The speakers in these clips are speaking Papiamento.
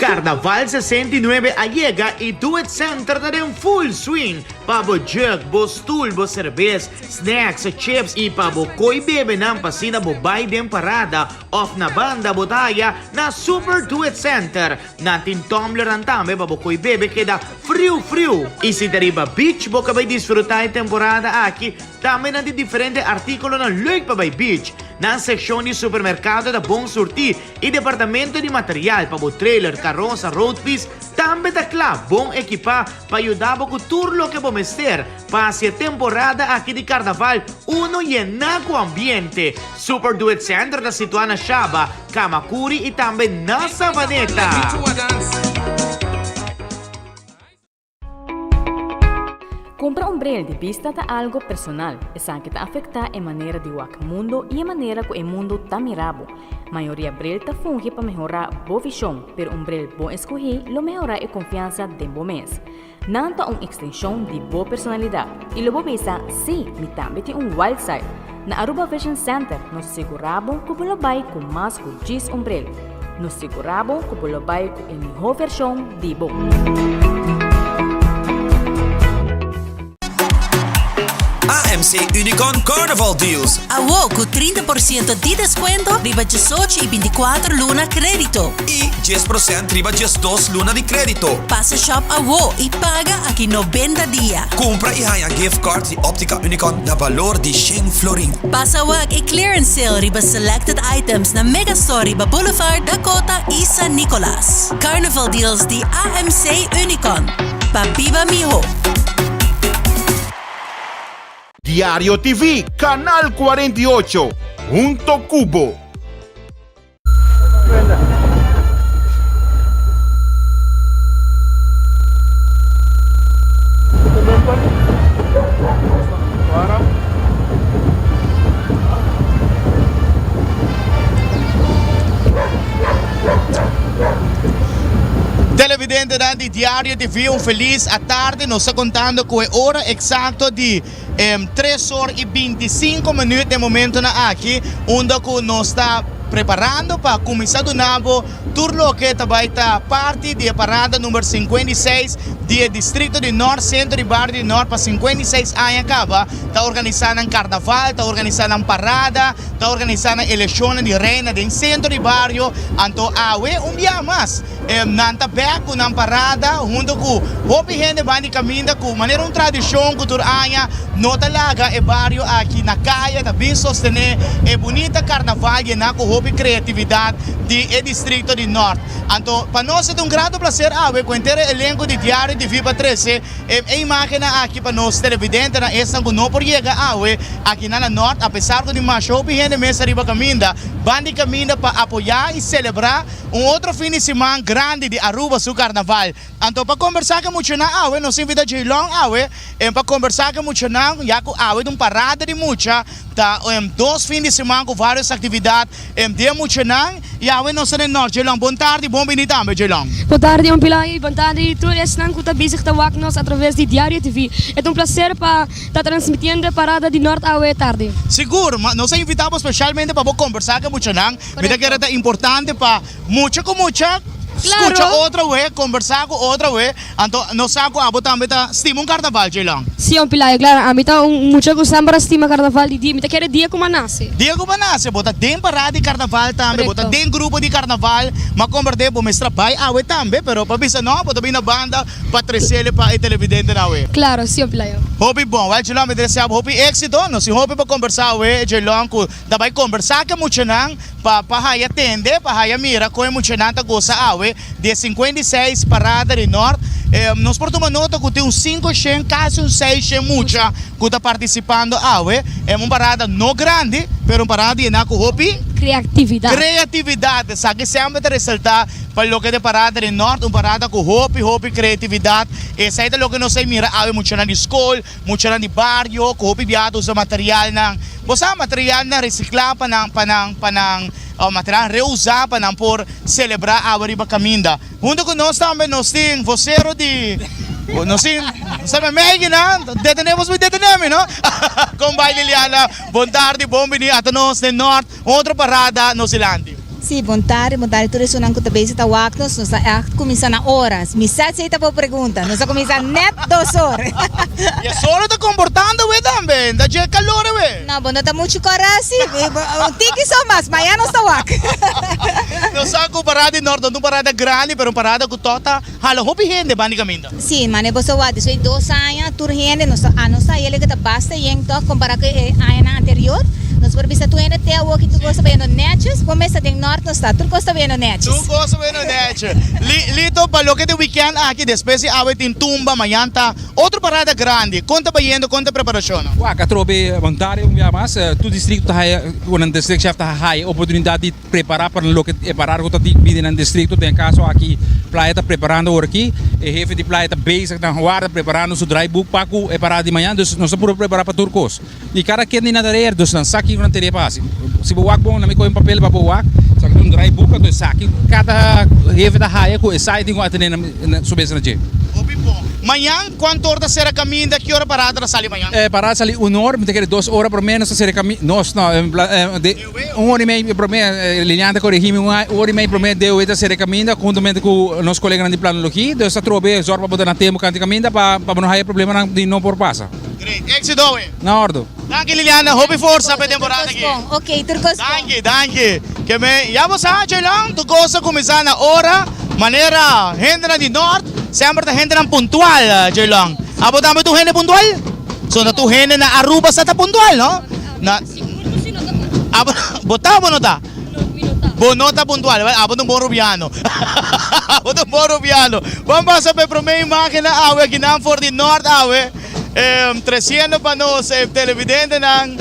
Carnaval sesenta i nuebe a yega y Do It Center ta den full swing pa bo jug, bo stoel, bo cervez, snacks, chips y pa bo coy bebenan pa asina bo bay den parada of na banda bo ta haya na Super Do It Center. Nan tin tumblernan tambe pa bo coy bebe keda friu friu. Y si ta riba beach bo ka bay disfruta e temporada aki, tambe nan tin diferente articulonan leuk pa bay beach. Nan seccion di supermercado ta bon surti E departamento di material pa bo trailer, karosa, roadpis tambe ta kla bon ekipá pa yuda bo ku tur loke bo mester pa hasi e temporada aki di karnaval uno i ená ku ambiente. Super Do It Center ta situá na Shaba, Kamakuri i tambe na Savaneta. Kumpra un bril di bista ta algu personal. Esaki ta afektá e manera di wak mundu i e manera ku e mundu ta mira bo. Mayoria bril ta fungi pa mehorá bo vishon, pero un bril bon eskuhí lo mehorá e konfiansa den bo mes. Nan ta un ekstenshon di bo personalidat. I lo bo bisa, Sí, mi tambe tin un wild side! Na Aruba Vision Center nos sigurá bo ku bo lo bai ku mas ku djis ombrel. Nos sigurá bo ku bo lo bai ku e mihó vershon di bo. AMC Unicorn Carnival Deals. Awor cu trinta por ciento di descuento riba diesocho y binticuatro luna crédito. Y dies procent riba diesdos luna di crédito. Pasa shop awor y paga aki noventa dia. Cumpra y haña gift cards di Optica Unicon na balor di shen florin. Pasa wak e clearance sale riba selected items na Megastore riba Boulevard, Dakota i San Nicolas. Carnival deals di AMC Unicon pa biba miho. Diario TV, Canal cuarenta y ocho, hunto cu bo. Televidentenan di Diario TV un felis atarde nos ta contando cu e ora exacto di tres or y binticinco minuut den momentonan aki unda cu nos ta preparando pa cuminsa duna bo tur loke ta bay ta parti di e parada number cincuenta y seis di e distrito di Nort, Centro y Barrio di Nort pa cincuenta y seis aña caba ta organisa nan carnaval, ta organisa nan parada, ta organisa nan eleccionnan di Reina den Centro y Barrio, anto awe un bia mas Nan ta bek ku nan parada huntu ku hopi hende ban di kaminda ku manera un tradishon ku tur aña no ta laga e bario aki na kaya ta bin sostené e bunita karnaval yená ku hopi kreatividat di e distrikto di Nort. Anto pa nos e ta un grato plaser awe ku henter e elenko di Diario di Viva Trese e imágennan aki pa nos televidentenan esnan ku no por yega awe aki na na Nort apesar ku di masha hopi hende mes ariba kaminda ban di kaminda pa apoyá i selebrá Un otro fin di siman grandi di Aruba su carnaval. Anto pa combersa cu muchanan awe nos invita Jay Long awe en pa combersa cu muchanan ya cu awe ta un parada di mucha ta en dos fin di siman cu varios actividad en den muchanan y awe nos ta den Norte Jay Long bon tardi bon bini tambe Jay Long. Bon tardi Oom Pillay y bon tardi tur esnan cu ta bezig ta wak nos a traves di Diario TV. E ta un placer pa ta transmitiendo e parada di Norte awe tardi. Sigur, ma nos a invita bo specialmente pa bo combersa cu muchanan. Mi ta kere ta importante pa mucha ku mucha skucha otro we, kombersá ku otro we. Anto no sa ku abo tambe ta stima un karnaval, Jaylon? Si, un pilayo klaro. Ami ta un mucha ku sèmper a stima karnaval di dia. Mi ta kere dia ku bo a nase. Dia ku bo a nase. Bo ta den pará di karnaval tambe, bo ta den grupo di karnaval. M'a komberdé bo mester a bai awe tambe, pero pa bisa nò bo ta bini na banda pa tresele pa e televidentenan awe. Klaro si, un pilayo. Hopi bon. Wèl, Jaylon, mi ta desea bo hopi éksito. Nos tin hopi pa kombersá awe, Jaylon, ku ta bai kombersá ku e muchanan pa pa haya tende, pa haya mira kon e muchanan ta gosa awe di e sinkuenta i seis parada di Nort. Nos por tuma nota ku tin un sinku shen, kasi un seis shen mucha ku ta partisipando awe. E un parada no grandi, pero un parada yená ku hopi. Kreatividat. Kreatividat, esaki semper ta resaltá pa loke ta e parada di Nort, un parada ku hopi, hopi kreatividat. Esei ta loke nos ta mira awe, muchanan di skol, Muchanan di bario cu hopi biaha ta usa materialnan, bo sa, materialnan recicla pa nan, pa nan, pa nan, o materialnan reusa pa nan por celebra awe riba caminda. Hunto cu nos tambe nos tin vocero di, nos tin, nos tambe meigi nan, detene, nos por detene mi, no? Con bay Liliana, bon tardi, bon bini ata nos den Nort. Otro parada nos dilanti. Sí, bon tarde, bon tarde tur esunnan cu ta bezig ta wak nos, nos ta echt cuminsa na oras. Mi sa si ta bo pregunta, nos ta cuminsa net dos or. Y e solo ta comportando awe tambe, no ta dje calor awe. No, bo no ta mucho cora así, un tiki so mas, maya nos ta wak. Nos sa cu parada di Norte no ta un parada grandi, pero un parada cu todo ta. Hala hopi hende bándikamenta. Sí, mane bo sa wak di soy dos aña, tur hende nos ta anos ta yele ke ta basta yen tòg kompará ku e añanan anterior. Nos por bisa tur hende te awoki tur kos ta bayendo nètjes. Bon mes ta den nòrt nos ta, tur kos ta bayendo nètjes. Tur kos ta bayendo nètje. Li, lito pa loke ta wikènt aki, despues di awe tin tumba, mañan ta otro parada grandi. Kon ta bayendo, kon ta preparashonnan? Wak, atrobe, bon tarde un bia mas. Tur distrikto ta haya, bueno, nan distrikshèf ta haya oportunidat di. prepara pa loke e parada ku ta bini nan distrikto den e kaso aki Playa ta preparando ora aki e hefe di Playa ta bezig nan warda preparando su draibuk pa ku e parada di mañan dus nos ta puru prepara pa tur kos i kada ken di nan tarer dus nan sa kiko nan tene pa hasi si bo wak bon na mi kohe un papel pa bo wak sa ki ta un draibuk anto e sa ki kada hefe ta haya ku e sa e tin ku atende na su mes na dje. Hopi bo. Mañan kuantu ora ta sera kaminda ki ora parada ta sali mañan? E parada ta sali un ora mi ta kere dos ora por lo menos ta sera kaminda nos no. Un ora di mei promé, Lilian ta korigí mi, un ora di mei promé deu e ta sere kaminda huntumente ku nos koleganan di planologí. Deu sta trobe zòrg pa bo ta na tempu kante kaminda pa bo no haya problemanan di no por pasa. Great! Éksito awe! Na ordu! Danki Liliana, hopi forsa pa e temporada aki! Tur kos bon, oke, tur kos bon! Danki, danki! Ke me, ya bo sa, Jaylon, tur kos ta kuminsá na ora, manera hendenan di nort semper ta hendenan puntual, Jaylon. Abo tambe tur hende puntual? So, na tur hende na Aruba sa ta puntual, no? Na. Bo ta o bo no ta? Bo no ta puntual. Well, abo ta un bon rubiano. Abo ta un bon rubiano. Bon pasa pa e promé imágennan awe aki nan for di Nort awe, em, tresiendo pa nos e televidentenan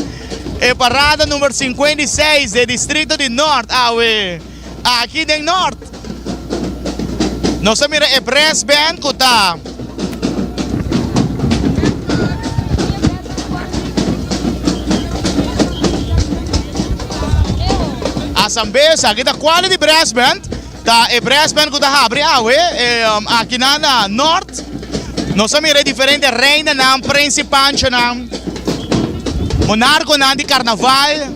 e parada número singkuenta i seis di e distrito di Nort awe. Aki den Nort nos a mira e Brass Band cu ta a sambeza. Aki ta Quality Brass Band, ta e brass band cu ta habri awe aki na na Nort. Nos a mira e diferente reinanan, prensipanchonan, monarconan di carnaval.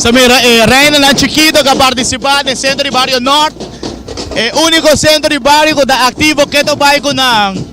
So mira, e eh, Reinanan Chiquito ka partisipa den Sentro di Bario Nort. E eh, uniko sentro di bario ku ta aktivo keto bai ku nan.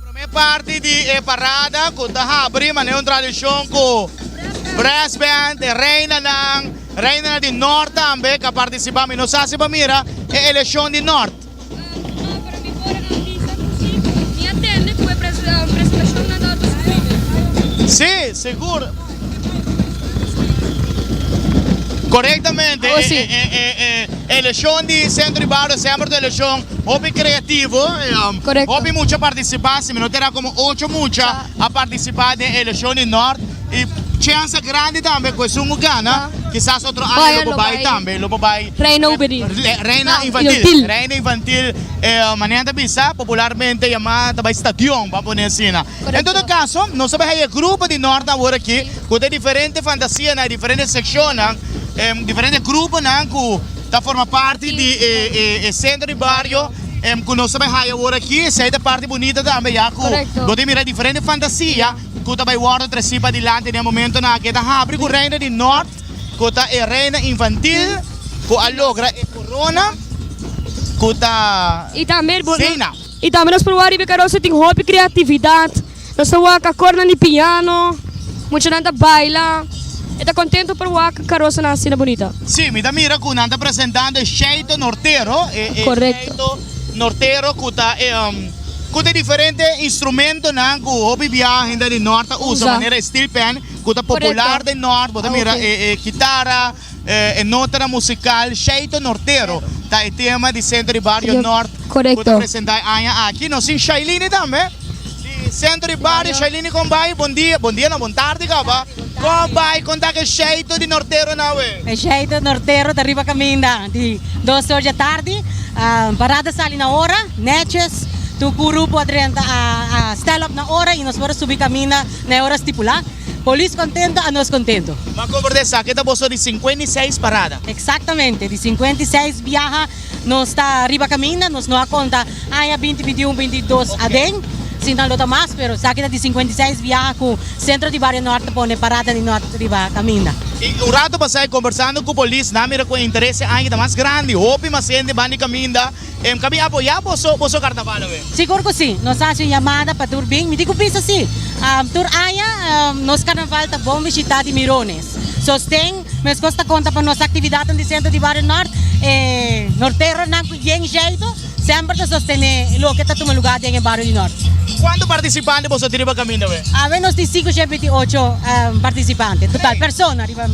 Promé parti di e parada ku ta habri manera un tradishon ku Brass Band, e reinanan, reinanan di Nort tambe ka partisipá mi nos hasi pa mira e eleshon di Nort. Sí, sigur. Korektamente Awo si. e, e, e, e, e eleshon di Sentro di Bario semper ta un eleshon hopi kreativo, e, um, Korekto. hopi mucha partisipá, si mi no ta erá komo ocho mucha Ta. a partisipá den eleshon di Nort, i chensa grandi tambe ku esun ku gana, Ta. kisas otro aña Boya lo por lo bai bai. tambe, lo por bai Reina Juvenil. re- re- reina Ah, infantil, infantil. reina infantil, e, manera nan ta bisa popularmente yamá ta bai stadion, bam a pone asina. En todo caso, nos a bai haña e grupo di Norte aworakí ku ta diferente fantasianan, e diferente sekshonnan, e diferente gruponan ku ta forma parti di e sentro di bario ku nos a bai haña aworakí. Esei ta parti bunita tambe ya ku bo ta mira diferente fantasia ku ta bai wòrdu trasí padilante den e momentonan aki. E ta habri ku Reina di Nort ku ta e reina infantil ku a logra e korona ku ta Reina. I tambe nos por wak riba e karosa tin hopi kreatividat, nos ta wak akor nan di piano, muchanan ta baila, e ta kontentu por wak karosanan asina bunita. Sí, mi ta mira cu nan ta presentando e Scheito Nortero, e Scheito Nortero cu ta e cu ta e diferente instrumentonan cu hopi bia hende di Nort ta usa manera e steel pan cu ta popular den Nort, bo ta mira e kitara, E notanan musikal Shayto Nortero ta e tema di Sento di Bario Nort ku ta presentá e aña aki. Nos tin Shailini tambe di Sento di Bario. Shailini kon bai? Bondia, bondia no, bon tardi kaba. Kon bai? Kon ta ku e Shayto di Nortero nan awe? E Shayto Nortero ta riba kaminda di dos or di atardi. Parada a sali na ora, nètjes. Tur grupo a drenta, a stèl op na ora i nos por a subi kaminda. Na e ora stipulá. Polis kontento a nos kontento. M'a kobra di esaki ta boso di sinkuenta i seis parada. Eksaktamente, di sinkuenta i seis biaha nos ta riba kaminda, nos no a konta aña binti binti un, binti dos aden, si nan lo ta mas, pero esaki ta di sinkuenta i seis biaha ku Sentro di Bario Nòrt ta pone Parada di Nòrt riba kaminda. I un ratu pasá, kombèrsando ku polis, nan a mira ku e interese aña ta mas grandi, hopi mas hende ban di kaminda. Em ka bin apoyá boso, boso karnaval awe. Sigur ku si. Nos hasi un yamada pa tur bin. Mi tin ku bisa si. Tur aña nos karnaval ta bon bishitá di Mirones. Sosten meskos ta konta pa nos aktividatnan di sentro di bario nòrt. E norteronan ku bien jeitu semper ta sostené loke ta tuma lugá den e bario di nòrt. Kuantu partisipante boso tin riba kaminda awe? Awe nos tin sinku shep binti ocho partisipante total, persona riba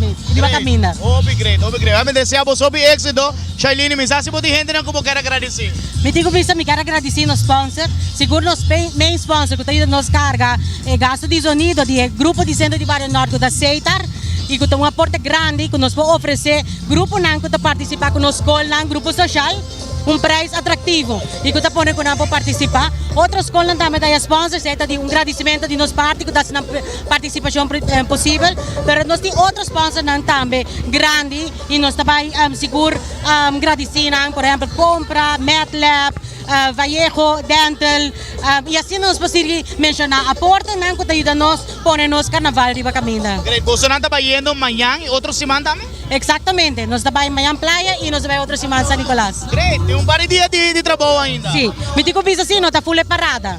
kaminda. Great, hopi great, hopi great. Mi ta desea boso hopi éksito. Shailine, Mi sa si bo tin hentenan ku bo ker a gradisí. Mi tin ku bisa mi ker a gradisí nos spònser, sigur nos main spònser ku ta yuda nos karga e gastu di zonido di e grupo di Sentro di Bario Nort ku ta Seitar i ku ta un aporte grandi ku nos por ofresé gruponan ku ta partisipá ku nos skolnan grupo soshal un preis atraktivo i ku ta pone ku nan por partisipá. Otro skolnan tambe ta ya spònsers ei ta di un gradisimentu di nos parti ku ta hasi nan partisipashon posibel pero nos tin otro spònsernan tambe grandi. Y nos ta bay sigur gradeci nan por ehempel Compra, Medlab, Vallejo Dental y asina nos por sigui menciona aporte nan cu ta yuda nos pone nos carnaval riba caminda. Great, bosonan ta bay yendo mañan y otro siman tambe? Exactamente, nos ta bay mañan playa y nos ta bay otro siman San Nicolas. Great, tin un par di dia di trabou ainda. Si, mi tin cu bisa si, nos ta full e parada.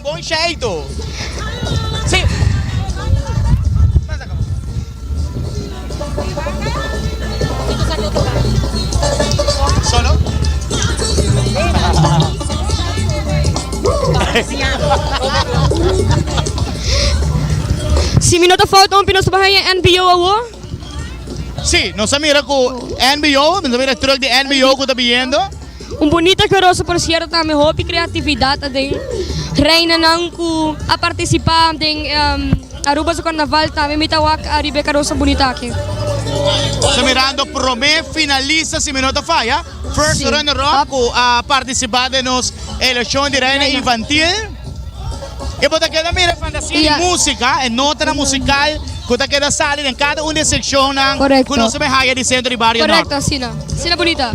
Bon shaido. Si mi no ta fout hopi nos ta baha den NBO awo. Si nos ta mira cu NBO nos ta mira truck di NBO cu ta biniendo. Un bunito i keroso porcierto tambe hopi creatividad aden reinanan cu a participa den Aruba su carnaval tambe mi ta wak ariba e carosa bunita aki. So mirando prome finalista si mi no ta faya first runner up cu a participa den nos eleccion di reina infantil y bo ta keda mira e fantasia di musica e notanan musical cu ta keda sali den cada un di e seccionnan cu nos a bay haya di centro di bario nort. Correcto asina asina bunita.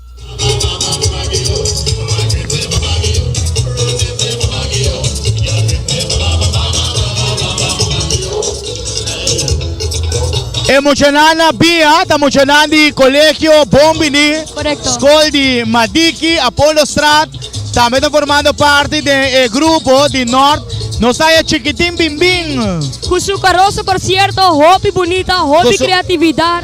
E muchanan na bia ta muchanan di Colegio Bon Bini, Scol di Madiki, Apollostraat, tambe ta formando parti den e grupo di Nort, nos ta e chikitin binbin. Cu su carosa por cierto, hopi bunita, hopi creatividad.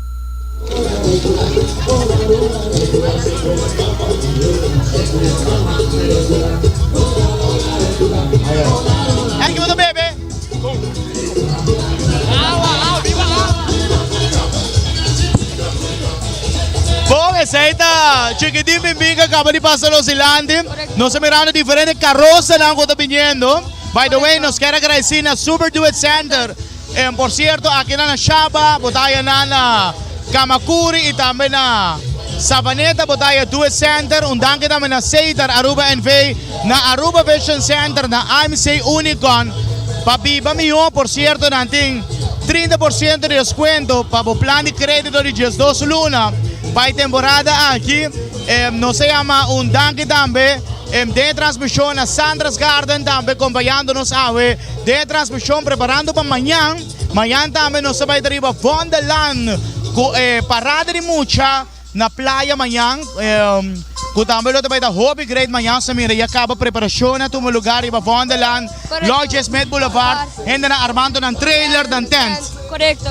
Bon esei ta chikitin binbin ke kaba di pasa los dilanti. Nos ta mirando diferente karosanan ku ta biniendo. By the way, nos kier agradesí na Super Duet Center. En por cierto akinan na Shaba bo ta haya nan na Kamakuri y tambe na Savaneta bo ta haya due center, un danki tambe na Seitar Aruba NV, na Aruba Vision Center, na IMC Unicon. Pa biba miho por cierto nan tin trinta por ciento di descuento pa bo plan di credito di diesdos luna pa e temporada aki. Em nos a yama un danki tambe den e transmision na Sandra's Garden tambe compañando nos awe. Den e transmishon Preparando pa Mañan, mañan tambe nos ta bai ta riba Vondelland ku e parada di mucha na playa mañan, ku tambe lo ta bai ta hopi great mañan. Nos ta mira ya kaba preparashonnan, a tuma lugar riba Vondelland, Lodge Smith Boulevard, hendenan armantu nan trailer, nan tent. Korekto.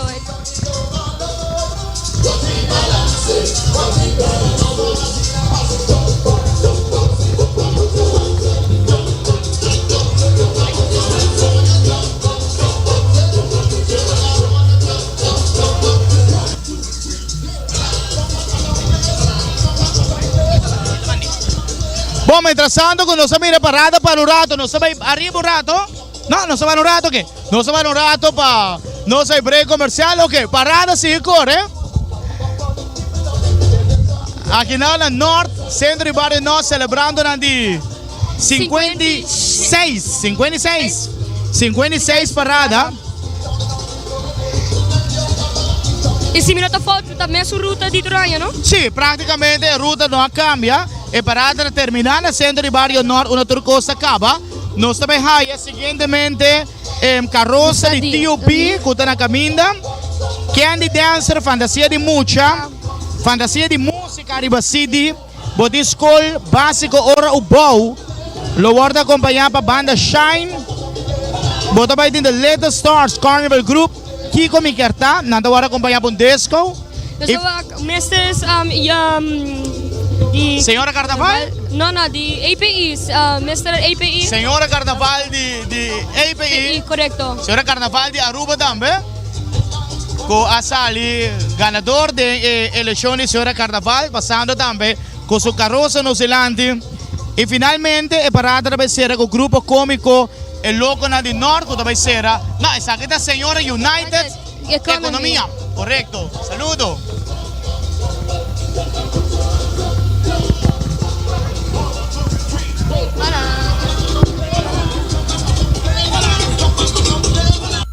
Bon, mientras tanto cu nos a mira parada pa un rato, nos ta bay ariba un rato. No, nos ta bay un rato aki. Nos a para un rato pa nos e break comercial, ok, parada sigui corre. Aki nou na Noord, centro di barrio Noord, celebrando nan di 56, 56, 56 parada. Y si mi no ta fout, ta mesu ruta di Toranja, no? Sí, prácticamente e ruta no a cambia. E parada na termina na centro di barrio Noord, una tur cosa caba. Nos ta bay haya. Recientemente e carosa di Tio Pi cu ta na caminda, Candy Dancer, Fantasia di Mucha, Fantasia di Musica riba CD, Botin Scol Basico Ora U Bou lo wordo acompaña pa Banda Shine, bo ta bay tin The Little Stars Carnival Group, Kiko mi kier ta? Nan ta wòrdu akompañá pa un disko i Nos ta mester es di Señora Carnaval? No no di API mester API Señora Carnaval di di API Korekto Señora Carnaval di Aruba tambe ku a sali ganador den e elekshon di Señora Carnaval pasando tambe ku su karosa nos dilanti i finalmente e parada ta ser sera ku grupo kómiko. E lokonan di nort ku ta bai sera, nah esaki ta señora united ekonomia, korekto, saludo.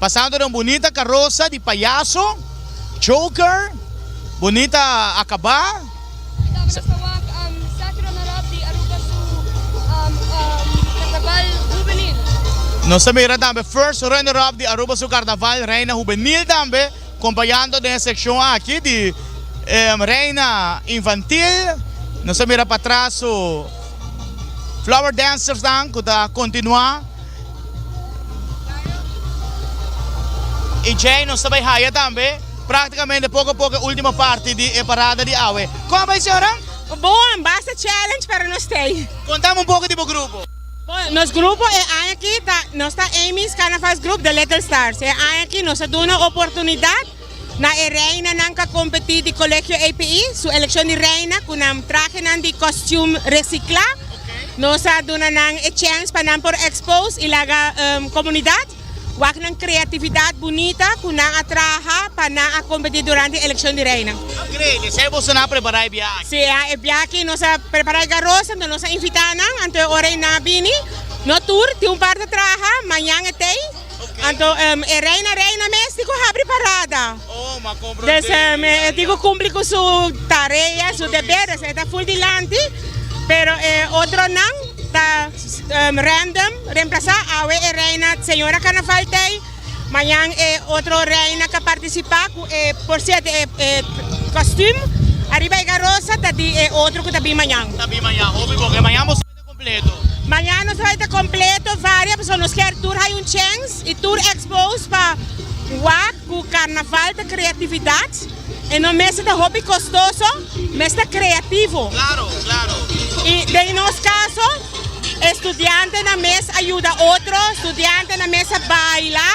Pasando den bunita karosa di payaso, Joker, bunita akabá. Nos ta mira tambe first runner up di Aruba su Karnaval Reina Hubenil tambe, kompañando den e sekshon aki di Reina Infantil. Nos ta mira patraso Flower Dancers nan ku ta kontinuá. Y djei nos ta bay haya tambe practicamente poco poco e ultimo parti di e parada di awe. Con a bay señoran? Bon, basta challenge pero nos stay. Contam un poco di bo grupo. Bon, nos grupo e aña aki ta, nos ta Amy's Carnavals Group The Little Stars. E aña aki nos a duna oportunidad Na e reina nan ka kompetí di Colegio API su elekshon di reina ku nan trahenan di kostium resiklá. Nos a duna nan e chèns pa nan por ekspos i laga komunidat wak nan kreatividat bunita ku nan a traha pa nan a kompetí durante e elekshon di reina. Enkreibel! Esei e boso nan a prepará e biaha aki? Sea, e biaha aki nos a prepará e garosa, anto nos a invitá nan, anto e ora ei nan a bini. No tur, tin un parti a traha, mañan e tei. Anto e reina reina mes tin cu habri parada des e tin cu cumpli cu su tarea su deberes e ta full dilanti pero e otro nan ta random remplaza awe e reina señora carnaval tey mañan e otro reina ca participa cu e por cierto e costume ariba e garrosa ta di e otro cu ta bin mañan. Mañana nos bai ta completo varia pasobra nos kier tur hay un chens y tur exposed pa wak cu carnaval ta creatividad y no mester ta hopi costoso mester creativo y den nos caso estudiante nan mes a yuda otro estudiante nan mes a baila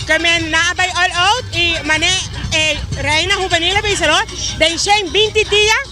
que men nan a bay all out y mane Reina juvenil a bisa lo den shen binti dia.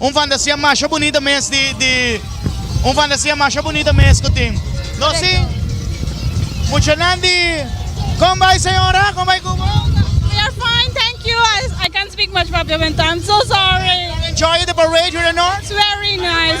Un fantasia masha bunita mes di di Un fantasia masha bunita mes ku tin. Lo si, muchanan di Kon bai señora? Kon bai ku bo? We are fine, thank you. I can't speak much Papia Ventana, I'm so sorry. Enjoy the parade here in North? It's very nice.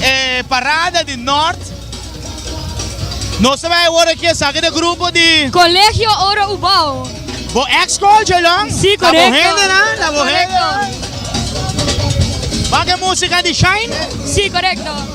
e parada di Nort. Nos ta bai awor aki esaki ta grupo di. Colegio Oro Ubao. Bo ex school dje long. Si correcto. Ta bo hende na, ta bo hende. Bak e musica di Shine. Si correcto.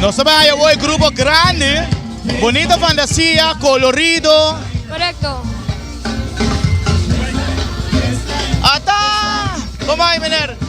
Nos ta bai haya hoy grupo grandi, bonito fantasia, colorido. Correcto. Ata! Como hay meneer?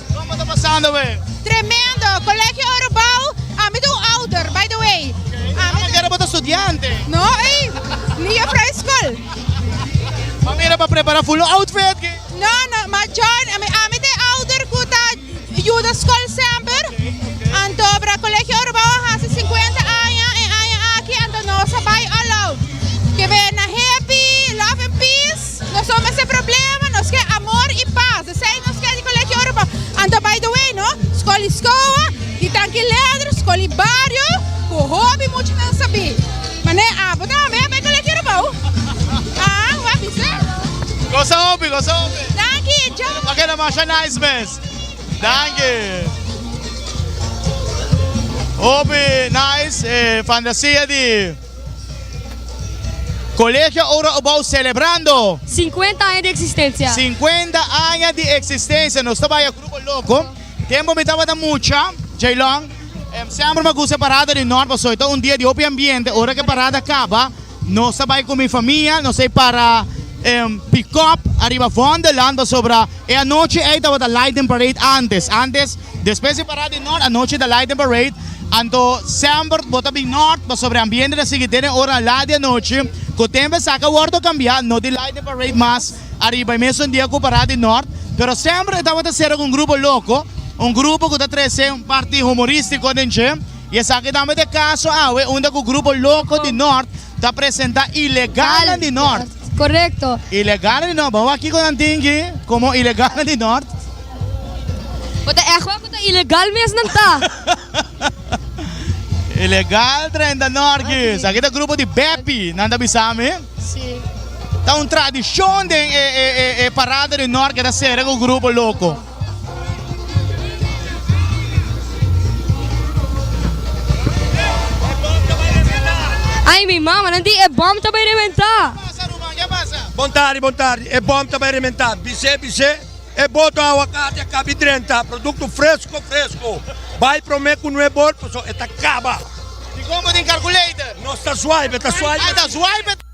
Como ta pasando we? Tremendo, Colegio Oro Bouw, a mi ta un ouder by the way. Ah, ma kere bo ta studiante? No ey, mi juffrouw di school. Ma mira pa prepara full un outfit ki. No no, ma John, ami ami ta e ouder cu ta yuda school semper, anto para Colegio Oro Bouw a hasi cincuenta aña e aña aki, anto nos a bay all out. Ke be na happy, love and peace. Nos no mester problema, nos ke amor i pas, esei nos ke di Colegio Europa. Anto by the way no, skol i skoa di trankiledr, skol i bario ku hopi mucha nan sabí. Man'e abo tambe a bay Colegio Europa hu? Haa, bo a bisa? Gosa hopi, gosa hopi. Danki e djou. Esta pa keda masha nice mes. Danki. Hopi nice e fantasia di. Colegio Ouro Abou celebrando. Cincuenta aña di existencia. Cincuenta aña di existencia nos ta baya grupo loco tempo mi tabata mucha Jaylon semper mi a gusta e parada di North pasobra e ta un dia di hopi ambiente ora cu e parada caba nos ta bay cu mi famia nos ta bay para pickup ariba Wonderland pasobra e anochi ey tabata lighting parade antes antes Despues di pará den nort anochi ta Light and Parade, anto semper bo ta bin nort pasobra e ambiente ta sigui den e ora la di anochi ku tempo esaki a wòrdu kambiá, no tin Light and Parade mas ariba e mesun dia ku pará di nort, pero semper e tabata sera ku un grupo loko, un grupo ku ta trese un parti humorístiko den dje, i esaki tambe ta e kaso awe unda ku grupo loko di nort Ta presenta ilegalnan di Nort. Korekto. Ilegalnan di Nort. Bo wak kiko nan tin ki komo ilegalnan di Nort. Bo ta ègt wak ku ta ilegal mes nan ta. Ilegal trenta Nort ki. Sa ki ta grupo di Bepi, nan ta bisa mi. Sí. Ta un tradishon den e parada di Nort ke ta sere ku grupo loko. Ay mi mama, nan di e bòm ta bai rebentá! Bon tardi, bon tardi, e bòm ta bai rebentá! Bis'é, bis'é, e boto awakati a kabi drenta, produkto fresko, fresko! Bai promé ku no e bol, pasobra e ta kaba! Di kon bo tin kalkuleitor? Nos ta swaip, e ta swaip.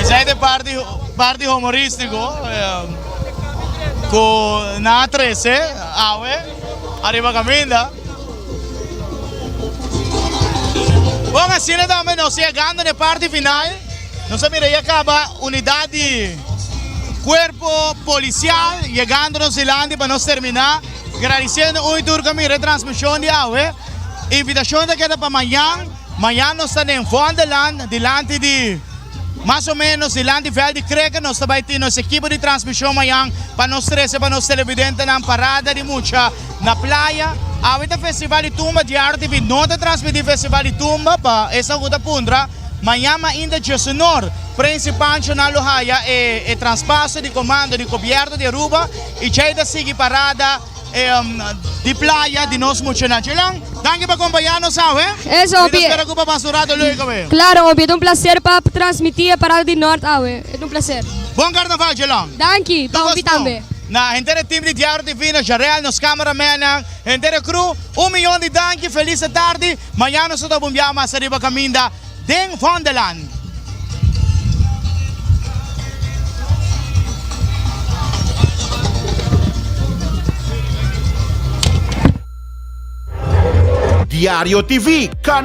Esai ta e parti parti humoristico cu nan a trece awe ariba caminda. Bon asina tambe nos yegando na e parti final nos a mira ya caba unidad di cuerpo policial yegandonos dilanti pa nos termina. Gradisiendo ui tur kami retransmishon di awe. Invitashon ta keda pa mañan. Mañan nos ta den Vondelland dilanti di mas o menos dilanti vèl di krèker. Nos ta bai tin nos ekipo di transmishon mañan pa nos trese pa nos televidentenan parada di mucha na playa. Awe ta Festival di Tumba, Diario TV no ta transmití Festival di Tumba pa esnan ku ta puntra. Mañan mainta Diesunor Prensipal Nacional lo haya e traspaso di komando di Gobièrnu di Aruba. I djei ta sigui parada di playa di nos muchanan. Djelan, danki pa kompañá nos awe. Mi ta spera ku bo pasa un ratu leuk awe. Klaro, obvio. E ta un plaser pa transmití e parada di nort awe. E ta un plaser. Bon karnaval, djelan. Danki, pa hopi tambe. Na henter e tim di Diario TV, na Jarel, nos kámaramenan, henter e kru, un miyon di danki, felis e tardi. Mañana nos ta bunbiá mas ariba kaminda. Den Wonderland. Diario TV, Ka.